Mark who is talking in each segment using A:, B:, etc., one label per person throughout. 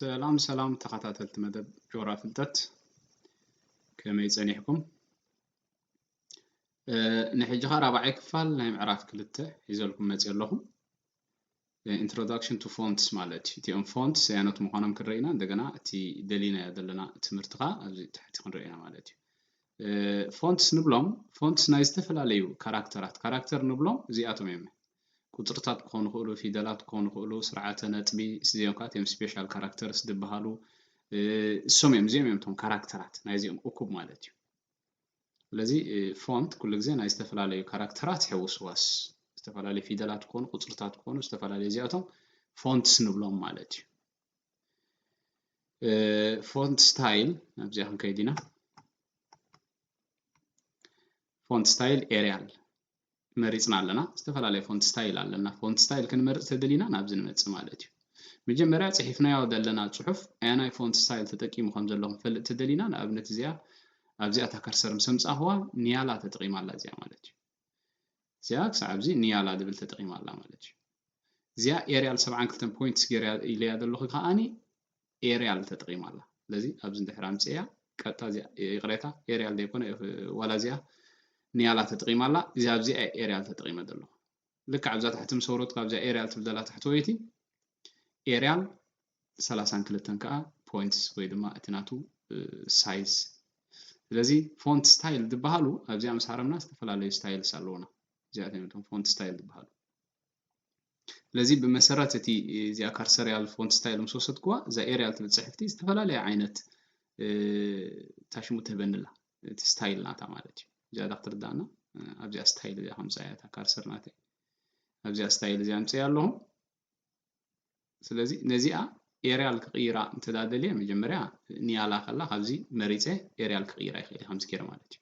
A: ሰላም ሰላም ተኸታተልቲ መደብ ጆራ ፍልጠት ከመይ ጸኒሕኩም? ንሕጂ ኸ ራብዓይ ክፋል ናይ ምዕራፍ ክልተ ሒዘልኩም መጽ ኣለኹ ኢንትሮዳክሽን ቱ ፎንትስ ማለት እዩ እቲኦም ፎንት ሰያኖት ምዃኖም ክንርኢ ኢና እንደገና እቲ ደሊናዮ ዘለና ትምህርቲ ኸ ኣብዚ ትሕቲ ክንርኢ ኢና ማለት እዩ ፎንትስ ንብሎም ፎንትስ ናይ ዝተፈላለዩ ካራክተራት ካራክተር ንብሎም እዚኣቶም እዮም ቁጽርታት ክኾኑ ይኽእሉ፣ ፊደላት ክኾኑ ይኽእሉ፣ ስርዓተ ነጥቢ እዚኦም ከኣ እቶም ስፔሻል ካራክተርስ ዝበሃሉ እሶም እዮም እዚኦም እዮም እቶም ካራክተራት ናይዚኦም እኩብ ማለት እዩ። ስለዚ ፎንት ኩሉ ግዜ ናይ ዝተፈላለዩ ካራክተራት ሕውስዋስ ዝተፈላለዩ ፊደላት ክኾኑ ቁፅርታት ክኾኑ ዝተፈላለዩ እዚኣቶም ፎንትስ ንብሎም ማለት እዩ ፎንት ስታይል ናብዚኣ ክንከይድ ኢና ፎንት ስታይል ኤሪያል መሪጽና ኣለና። ዝተፈላለየ ፎንት ስታይል ኣለና። ፎንት ስታይል ክንመርጽ ተደሊና ናብዚ ንመጽእ ማለት እዩ። መጀመርያ ጽሒፍናዮ ዘለና ጽሑፍ ኣየናይ ፎንት ስታይል ተጠቂሙ ከም ዘሎ ክንፈልጥ ተደሊና ንኣብነት እዚኣ ኣብዚኣ እታ ከርሰር ምስ ኣምጻእኽዋ ንያላ ተጠቂማ ኣላ እዚኣ ማለት እዩ። እዚኣ ክሳዕ ኣብዚ ንያላ ዝብል ተጠቂማ ኣላ ማለት እዩ። እዚኣ ኤርያል ሰብዓን ክልተን ፖይንትስ ገይረያ ኢለያ ዘለኹ ከኣኒ ኤርያል ተጠቂማ ኣላ ስለዚ ኣብዚ እንድሕር ኣምጺኤያ ቀጥታ እዚኣ ይቅሬታ ኤርያል ዘይኮነ ዋላ እዚኣ ንያላ ተጠቂማ ኣላ እዚ ኣብዚኣ ኤርያል ተጠቂመ ዘለኹ ልክዕ ኣብዛ ታሕቲ ምስ ወረድኩ ኣብዚኣ ኤርያል ትብል ዘላ ታሕተወይቲ ኤርያል ሰላሳን ክልተን ከዓ ፖይንትስ ወይ ድማ እቲ ናቱ ሳይዝ ስለዚ ፎንት ስታይል ዝበሃሉ ኣብዚኣ ምስ ሃረምና ዝተፈላለዩ ስታይልስ ኣለዉና እዚኣቶም እዮም ፎንት ስታይል ዝበሃሉ ስለዚ ብመሰረት እቲ እዚኣ ካርሰሪያል ፎንት ስታይል ምስ ወሰድክዋ እዛ ኤሪያል ትብል ፅሕፍቲ ዝተፈላለየ ዓይነት ታሽሙ ትህበኒ ኣላ እቲ ስታይል ናታ ማለት እዩ እዚኣ ዳ ክትርዳእና ኣብዚኣ ስታይል እዚኣ ከምፅኣ እያ እታ ካርሰር ናተይ ኣብዚኣ ስታይል እዚኣ ኣምፅእ ኣለኹ ስለዚ ነዚኣ ኤሪያል ክቕይራ እንተዳደልየ መጀመርያ ንያላ ከላ ካብዚ መሪፀ ኤሪያል ክቕይራ ይኽእል ከምዚ ገይረ ማለት እዩ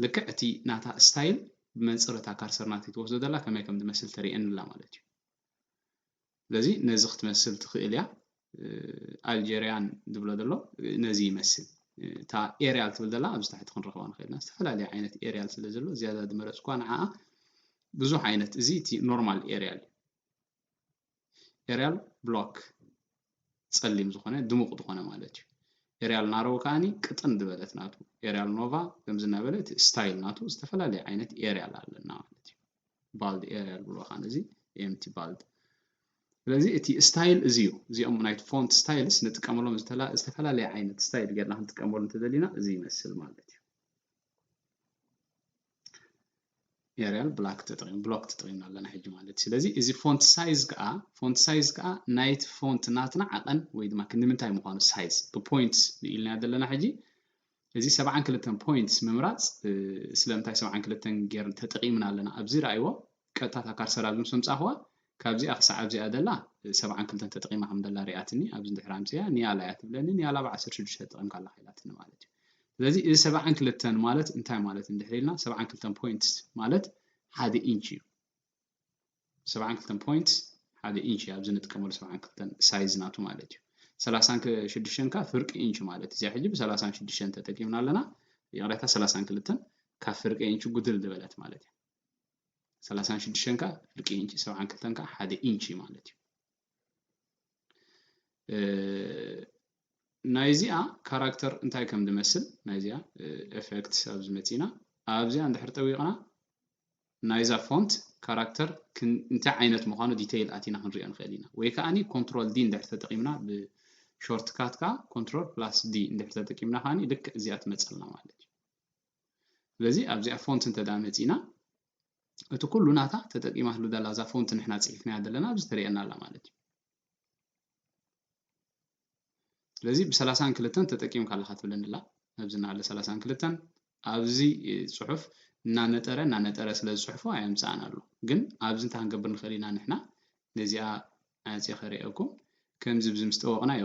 A: ልክዕ እቲ ናታ ስታይል ብመንጽር እታ ካርሰር ናተይ ትወስዶ ዘላ ከመይ ከም ዝመስል ተርእየኒ ኣላ ማለት እዩ። ስለዚ ነዚ ክትመስል ትኽእል እያ። ኣልጀርያን ዝብሎ ዘሎ ነዚ ይመስል። እታ ኤርያል ትብል ዘላ ኣብዚ ታሕቲ ክንረኽባ ንኽእል ኢና። ዝተፈላለየ ዓይነት ኤርያል ስለ ዘሎ ዝያዳ ዝመረጽኳ ንዓኣ ብዙሕ ዓይነት እዚ እቲ ኖርማል ኤርያል እዩ። ኤርያል ብላክ ጸሊም ዝኾነ ድሙቕ ዝኾነ ማለት እዩ ኤርያል ናሮው ከዓኒ ቅጥን ዝበለት ናቱ ኤርያል ኖቫ ከምዚ እናበለ እቲ ስታይል ናቱ ዝተፈላለየ ዓይነት ኤርያል ኣለና ማለት እዩ ባልድ ኤርያል ብሎ ከዓ ነዚ ኤምቲ ባልድ ስለዚ እቲ ስታይል እዚ እዩ እዚኦም ናይ ፎንት ስታይልስ ንጥቀመሎም ዝተፈላለየ ዓይነት ስታይል ጌርና ክንጥቀመሉ እንተዘሊና እዚ ይመስል ማለት እዩ ኤርያል ብላክ ተጠቂም ብሎክ ተጠቂምና ኣለና ሕጂ ማለት እዩ ስለዚ እዚ ፎንት ሳይዝ ከዓ ፎንት ሳይዝ ከዓ ናይቲ ፎንት ናትና ዓቐን ወይ ድማ ክንምንታይ ምዃኑ ሳይዝ ብፖይንት ንኢልና ዘለና ሕጂ እዚ ሰብዓን ክልተን ፖይንት ምምራፅ ስለምንታይ ሰብዓን ክልተን ጌር ተጠቂምና ኣለና ኣብዚ ረኣይዎ ቀጥታ እታ ካርሰር ኣብዚ ምስ ኣምጻእክዋ ካብዚኣ ክሳዕ ኣብዚኣ ዘላ ሰብዓን ክልተን ተጠቒማ ከም ዘላ ርእያትኒ ኣብዚ ድሕሪ ኣምጺኣ ኒያላ እያ ትብለኒ ኒያላ ብ ዓሰርተ ሽዱሽተ ተጠቒምካ ኣለኻ ኢላትኒ ማለት እዩ ስለዚ እዚ ሰብዓን ክልተን ማለት እንታይ ማለት እንድሕሪ ኢልና ሰብዓን ክልተን ፖይንትስ ማለት ሓደ ኢንች እዩ ሰብዓን ክልተን ፖይንትስ ሓደ ኢንች እዩ ኣብዚ ንጥቀመሉ ሰብዓን ክልተን ሳይዝ ናቱ ማለት እዩ ሰላሳን ሽዱሽተን ከዓ ፍርቂ ኢንች ማለት እዩ እዚኣ ሕጂ ብሰላሳን ሽዱሽተን ተጠቂምና ኣለና ይቕሬታ ሰላሳን ክልተን ካብ ፍርቂ ኢንች ጉድል ዝበለት ማለት እዩ ሰላሳን ሽዱሽተን ከዓ ፍርቂ ኢንች ሰብዓን ክልተን ከዓ ሓደ ኢንች እዩ ማለት እዩ ናይዚኣ ካራክተር እንታይ ከም ዝመስል ናይዚኣ ኤፌክት ኣብ ዝመፅና ኣብዚኣ እንድሕር ጠዊቕና ናይዛ ፎንት ካራክተር እንታይ ዓይነት ምዃኑ ዲተይል ኣቲና ክንሪኦ ንኽእል ኢና ወይ ከዓኒ ኮንትሮል ዲ እንድሕር ተጠቂምና ብሾርትካት ከዓ ኮንትሮል ፕላስ ዲ እንድሕር ተጠቂምና ከዓኒ ልክዕ እዚኣ ትመፀልና ማለት እዩ ስለዚ ኣብዚኣ ፎንት እንተ መጺና እቲ ኩሉ ናታ ተጠቂማትሉ ዘላ እዛ ፎንት ንሕና ጽሒፍናያ ዘለና ኣብዚ ተርእየና ኣላ ማለት እዩ ስለዚ ብሰላሳን ክልተን ተጠቂምካ ኣለካ ትብለኒ ኣላ ኣብዚ ናለ ሰላሳን ክልተን ኣብዚ ጽሑፍ እናነጠረ እናነጠረ ስለ ዝጽሕፎ ኣየምጽኣን ኣሎ ግን ኣብዚ እንታይ ክንገብር ንኽእል ኢና ንሕና ነዚኣ ኣጽየ ከርእየኩም ከምዚ ብዚ ምስ ጠወቅናዮ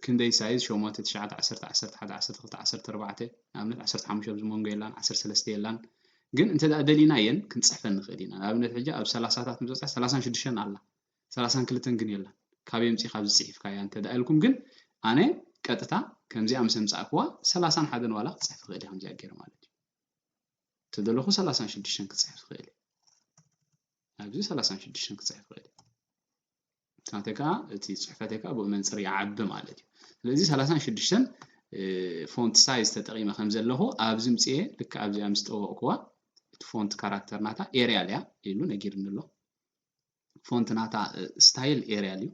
A: ክንደይ ሳይዝ ሸሞንተ ትሽዓተ ዓሰርተ ዓሰርተ ሓደ ዓሰርተ ክልተ ዓሰርተ ኣርባዕተ ንኣብነት ዓሰርተ ሓሙሽተ ኣብዚ መንጎ የላን ዓሰርተ ሰለስተ የላን ግን እንተ ደሊናየን ክንጽሕፈን ንኽእል ኢና ንኣብነት ሕጂ ኣብ ሰላሳታት ምዞጻ ሰላሳን ሽዱሽተን ኣላ ሰላሳን ክልተን ግን የላን ካብ የምጺ ካብ ዝጽሒፍካያ እንተ ደኣ ኢልኩም ግን ኣነ ቀጥታ ከምዚኣ ምስ ኣምጻእክዋ ሰላሳን ሓደን ዋላ ክትጽሕፍ ኽእል እያ ከምዚኣ ገይረ ማለት እዩ ተደለኹ ሰላሳን ሽዱሽተን ክፅሕፍ ይኽእል እዩ ኣብዚ ሰላሳን ሽዱሽተን ክፅሕፍ ይኽእል እዩ ናተይ ከዓ እቲ ፅሑፈተይ ከዓ ብኡ መንፅር ይዓቢ ማለት እዩ ስለዚ ሰላሳን ሽዱሽተን ፎንት ሳይዝ ተጠቂመ ከም ዘለኹ ኣብዚ ምፅኤ ልክ ኣብዚኣ ምስ ጠወቕኩዋ እቲ ፎንት ካራክተር ናታ ኤርያል እያ ኢሉ ነጊርኒ ኣሎ ፎንት ናታ ስታይል ኤርያል እዩ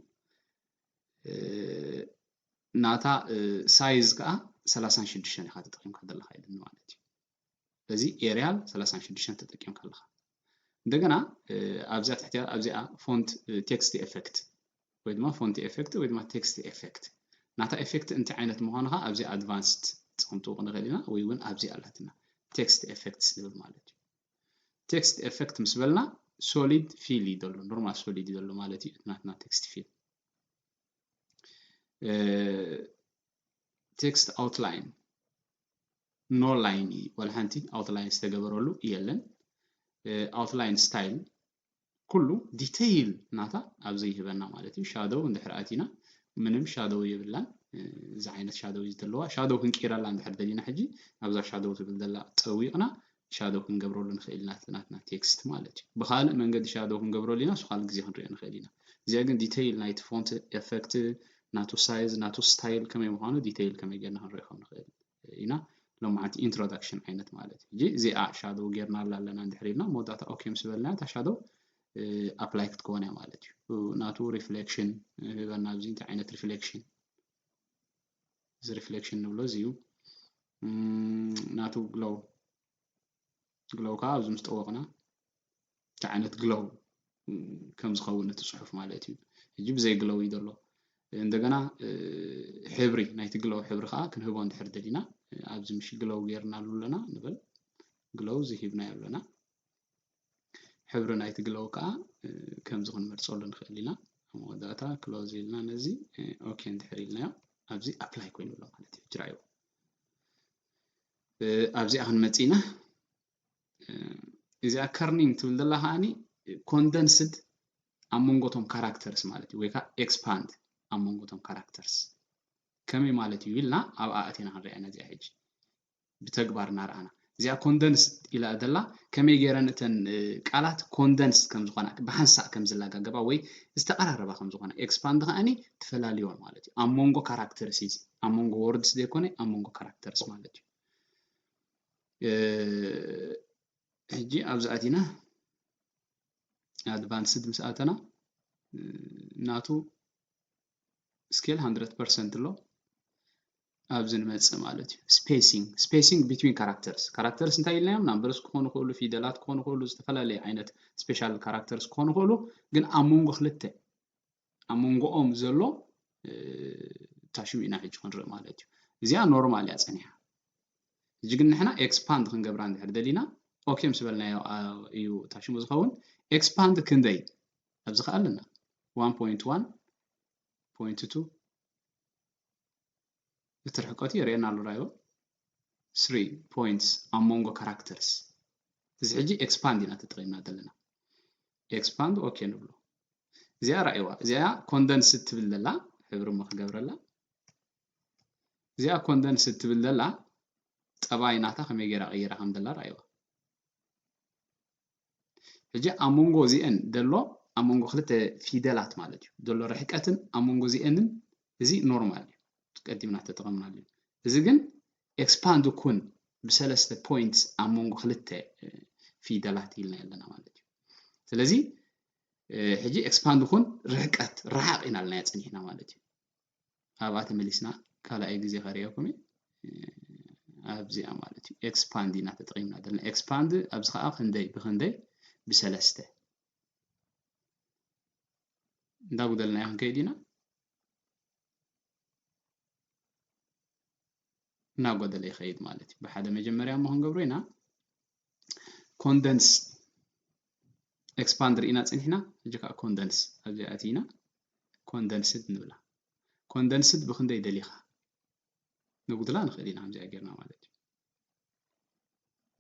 A: ናታ ሳይዝ ከዓ ሰላሳን ሽዱሽተን ኢኻ ተጠቂምካ ዘለካ ኢሉኒ ማለት እዩ በዚ ኤርያል ሰላሳን ሽዱሽተን ተጠቂምካ ኣለኻ እንደገና ኣብዚኣ ትሕቲያ ኣብዚኣ ፎንት ቴክስት ኤፌክት ወይ ድማ ፎንት ኤፌክት ወይ ድማ ቴክስት ኤፌክት ናታ ኤፌክት እንታይ ዓይነት ምዃኑ ከዓ ኣብዚ ኣድቫንስድ ፀምጥዎ ክንኽእል ኢና ወይ እውን ኣብዚ ኣላትና ቴክስት ኤፌክት ዝብል ማለት እዩ ቴክስት ኤፌክት ምስ በልና ሶሊድ ፊል እዩ ዘሎ ኖርማል ሶሊድ እዩ ዘሎ ማለት እዩ ናትና ቴክስት ፊል ቴክስት ኣውትላይን ኖ ላይን እዩ ዋላ ሓንቲ ኣውትላይን ዝተገበረሉ የለን ኣውትላይን ስታይል ኩሉ ዲተይል ናታ ኣብዚ ይህበና ማለት እዩ ሻዶው እንድሕር ኣቲና ምንም ሻዶው የብላን እዚ ዓይነት ሻዶው እዩ ዘለዋ ሻዶው ክንቅይረላ እንድሕር ደሊና ሕጂ ኣብዛ ሻዶው ትብል ዘላ ጠዊቕና ሻዶው ክንገብረሉ ንኽእል ኢና እቲ ናትና ቴክስት ማለት እዩ። ብኻልእ መንገዲ ሻዶው ክንገብረሉ ኢና እሱ ካልእ ግዜ ክንሪኦ ንኽእል ኢና። እዚኣ ግን ዲተይል ናይቲ ፎንት ኤፈክት ናቱ ሳይዝ ናቱ ስታይል ከመይ ምዃኑ ዲተይል ከመይ ጌርና ክንሪኦ ከም ንኽእል ኢና። ሎማዓንቲ ኢንትሮዳክሽን ዓይነት ማለት እዩ። ሕጂ እዚኣ ሻዶው ጌርናላ ኣለና እንድሕር ኢልና መወዳእታ ኦኬ ምስ በልና እታ ሻዶው ኣፕላይ ክትከውን እያ ማለት እዩ። ናቱ ሪፍሌክሽን ህበና ኣብዚ እንታይ ዓይነት ሪፍሌክሽን እዚ ሪፍሌክሽን ንብሎ እዚ እዩ ናቱ ግሎው ግሎው ከዓ ኣብዚ ምስ ጠወቕና እቲ ዓይነት ግሎው ከም ዝኸውን እቲ ፅሑፍ ማለት እዩ ሕጂ ብዘይ ግሎው እዩ ዘሎ እንደገና ሕብሪ ናይቲ ግሎው ሕብሪ ከዓ ክንህቦ እንድሕር ደሊና ኣብዚ ምሽ ግሎው ጌርናሉ ኣለና ንበል ግሎው እዚ ሂብናዮ ኣለና ሕብሪ ናይቲ ግሎው ከኣ ከምዚ ክንመርጸሉ ንኽእል ኢና። ኣብ መወዳእታ ክሎዝ ኢልና ነዚ ኦኬ እንድሕር ኢልናዮ ኣብዚ ኣፕላይ ኮይኑ ኣሎ ማለት እዩ ሕጂ ረኣይዎ ኣብዚኣ ክንመጽእ ኢና እዚኣ ከርኒንግ ትብል ዘላ ከዓኒ ኮንደንስድ ኣብ መንጎቶም ካራክተርስ ማለት እዩ ወይ ከዓ ኤክስፓንድ ኣብ መንጎቶም ካራክተርስ ከመይ ማለት እዩ ኢልና ኣብኣ ኣቲና ክንሪኣ ኢና እዚኣ ሕጂ ብተግባር እናረኣና። እዚኣ ኮንደንስ ኢላ ዘላ ከመይ ገይረን እተን ቃላት ኮንደንስ ከም ዝኾና ብሓንሳእ ከም ዝላጋገባ ወይ ዝተቐራረባ ከም ዝኾና ኤክስፓንድ ከኣኒ ትፈላልዮን ማለት እዩ። ኣብ መንጎ ካራክተርስ እዩ እዚ ኣብ መንጎ ወርድስ ዘይኮነ ኣብ መንጎ ካራክተርስ ማለት እዩ። ሕጂ ኣብዚ ኣቲና ኣድቫንስድ ምስ ኣተና ናቱ ስኬል ሃንድረድ ፐርሰንት ኣሎ ኣብዚ ንመፅእ ማለት እዩ ስፔሲንግ ስፔሲንግ ቢትዊን ካራክተርስ ካራክተርስ እንታይ ኢልናዮም ናምበርስ ክኾኑ ክእሉ ፊደላት ክኾኑ ክእሉ ዝተፈላለየ ዓይነት ስፔሻል ካራክተርስ ክኾኑ ክእሉ ግን ኣብ መንጎ ክልተ ኣብ መንጎኦም ዘሎ ታሽሙ ኢና ሕጂ ክንርኢ ማለት እዩ እዚኣ ኖርማል እያ ፀኒሓ እዚ ግን ንሕና ኤክስፓንድ ክንገብራ እንድሕር ደሊና ኦኬ ምስ በልናዮ እዩ ታሽሙ ዝኸውን ኤክስፓንድ ክንደይ ኣብዚ ከኣ ኣለና 1.1.2 እቲ ርሕቀቱ የርእየና ኣሎ ራይዎ 3 ፖይንትስ ኣብ መንጎ ካራክተርስ እዚ ሕጂ ኤክስፓንድ ኢና ተጠቒምና ዘለና ኤክስፓንድ ኦኬ ንብሎ እዚኣ ራእይዋ እዚኣ ኮንደንስ ትብል ዘላ ሕብሪ እሞ ክገብረላ እዚኣ ኮንደንስ ትብል ዘላ ጠባይ ናታ ከመይ ገይራ ቀይራ ከም ዘላ ራእይዋ ሕጂ ኣብ መንጎ እዚኤን ዘሎ ኣብ መንጎ ክልተ ፊደላት ማለት እዩ ዘሎ ርሕቀትን ኣብ መንጎ እዚኤንን እዚ ኖርማል እዩ ቀዲምና ተጠቐምናሉ እዩ እዚ ግን ኤክስፓንድ ኩን ብሰለስተ ፖይንት ኣብ መንጎ ክልተ ፊደላት ኢልና ኣለና ማለት እዩ ስለዚ ሕጂ ኤክስፓንድ ኩን ርሕቀት ረሓቕ ኢና ኣለና ፀኒሕና ማለት እዩ ኣብኣ ተመሊስና ካልኣይ ግዜ ከርእየኩም እየ ኣብዚኣ ማለት እዩ ኤክስፓንድ ኢና ተጠቒምና ዘለና ኤክስፓንድ ኣብዚ ከዓ ክንደይ ብክንደይ ብሰለስተ እንዳጉደልናዮ ክንከይድ ኢና እናጎደለ ይኸይድ ማለት እዩ። ብሓደ መጀመርያ እሞ ክንገብሮ ኢና ኮንደንስ ኤክስፓንድ ርኢና ፅኒሕና ሕጂ ከዓ ኮንደንስ ኣብዚኣ ኣቲና ኮንደንስድ ንብላ ኮንደንስድ ብክንደይ ደሊኻ ንጉድላ ንኽእል ኢና ከምዚኣ ጌርና ማለት እዩ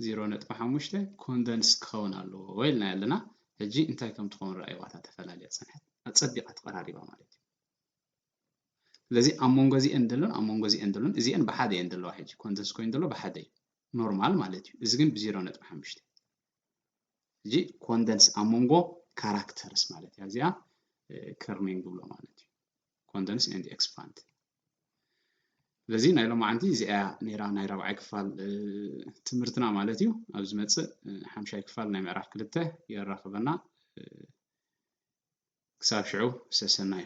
A: ዜሮ ነጥቢ ሓሙሽተ ኮንደንስ ክኸውን ኣለዎ ኢልና ኣለና ሕጂ እንታይ ከም ትኸውን ረኣይዋታ ተፈላለያ ፀንሐት ኣፀቢቓ ተቐራሪባ ማለት እዩ ስለዚ ኣብ መንጎ እዚኤን ዘሎን ኣብ መንጎ እዚኤን ዘሎን እዚኤን ብሓደ እየን ዘለዋ ሕጂ ኮንደንስ ኮይኑ ዘሎ ብሓደ እዩ ኖርማል ማለት እዩ እዚ ግን ብዜሮ ነጥቢ ሓሙሽተ እዚ ኮንደንስ ኣብ መንጎ ካራክተርስ ማለት እያ እዚኣ ከርኒንግ ዝብሎ ማለት እዩ ኮንደንስ ኤንድ ኤክስፓንድ ስለዚ ናይ ሎማዓንቲ እዚኣ ነይራ ናይ ራብዓይ ክፋል ትምህርትና ማለት እዩ ኣብ ዝመፅእ ሓምሻይ ክፋል ናይ ምዕራፍ ክልተ የራኽበና ክሳብ ሽዑ ሰሰናዩ።